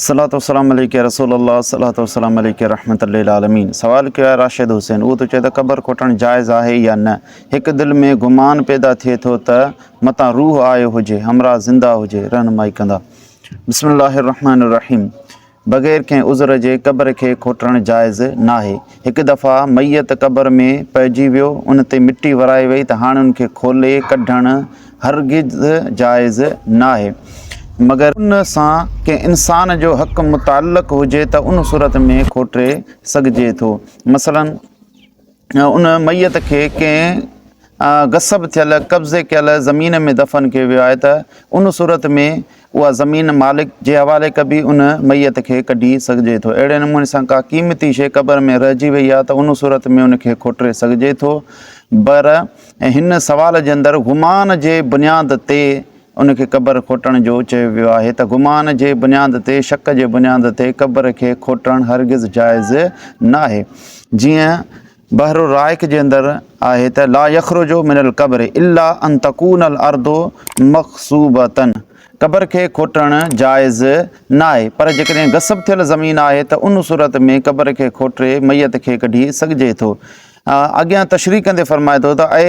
صلاة والسلام عليڪ يا رسول الله صلاة والسلام عليڪ يا رحمت للعالمين سوال ڪيو آهي راشد حسين اهو ٿو چئي ته قبر کوٽڻ جائز آهي يا نه هڪ دل ۾ گمان پيدا ٿئي ٿو ته متان روح آيو هجي همراهه زنده هجي رهنمائي ڪندا بسم الله الرحمٰن الرحيم بغير ڪنهن عذر جي قبر کي کوٽڻ جائز ناهي هڪ دفعا ميت قبر ۾ پئجي ويو، ان تي مٽي ورائي وئي ته هاڻي ان کي کولي ڪڍڻ هرگز جائز ناهي. مگر ان سان ڪنهن انسان جو حق متعلق هجي ته ان صورت ۾ کوٽي سگهجي ٿو. مثلاً ان ميت کي ڪنهن غصب ٿيل، قبضي ڪيل، زمين ۾ دفن ڪيو ويو آهي ته ان صورت ۾ اها زمين مالڪ جي حوالي ڪبي ان ميت کي ڪڍي سگهجي ٿو اهڙي نموني سان ڪا قيمتي شيء قبر ۾ رهجي وئي آهي ته ان صورت ۾ ان کي کوٽري سگهجي ٿو بر ۽ هن سوال جي اندر گمان جي بنياد تي ان کي قبر کوٽڻ جو چيو ويو آهي ته گمان جي بنياد تي شڪ جي بنياد تي قبر کي کوٽڻ هرگز جائز ناهي جيئن بحر الرائق جي اندر آهي ته لا يخرج من القبر الا ان تڪون الارض مغصوبه قبر کي کوٽڻ جائز ناهي پر جيڪڏهن غصب ٿيل زمين آهي ته ان صورت ۾ قبر کي کوٽي ميت کي ڪڍي سگهجي ٿو اڳيان تشريح ڪندي فرمائي ٿو ته اي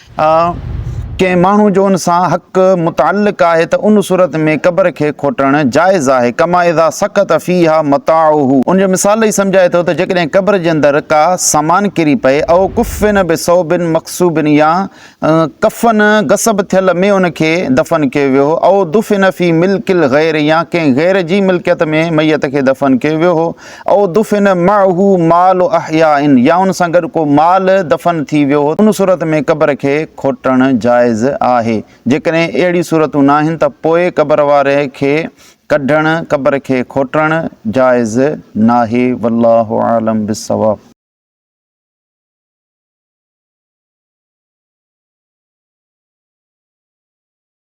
آء ڪنهن ماڻهو جو ان سان حق متعلق آهي ته ان صورت ۾ قبر کي کوٽڻ جائز آهي ڪما اذا سقط فيها متاعه ان جو مثال ڏئي سمجهائي ٿو ته جيڪڏهن قبر جي اندر ڪا سامان ڪري پئي او ڪفن بثوب مقصوب يا ڪفن غصب ٿيل ۾ ان کي دفن ڪيو ويو هو او دفن في ملڪ الغير يا ڪنهن غير جي ملڪيت ۾ ميت کي دفن ڪيو ويو هو او دفن معه مال احياء يا ان سان گڏ ڪو مال دفن ٿي ويو هو ان صورت ۾ قبر کي کوٽڻ جائز آهي جيڪڏهن اهڙيون صورتون ناهن ته پوء قبر واري کي ڪڍڻ قبر کي کوٽڻ جائز ناهي والله اعلم بالصواب.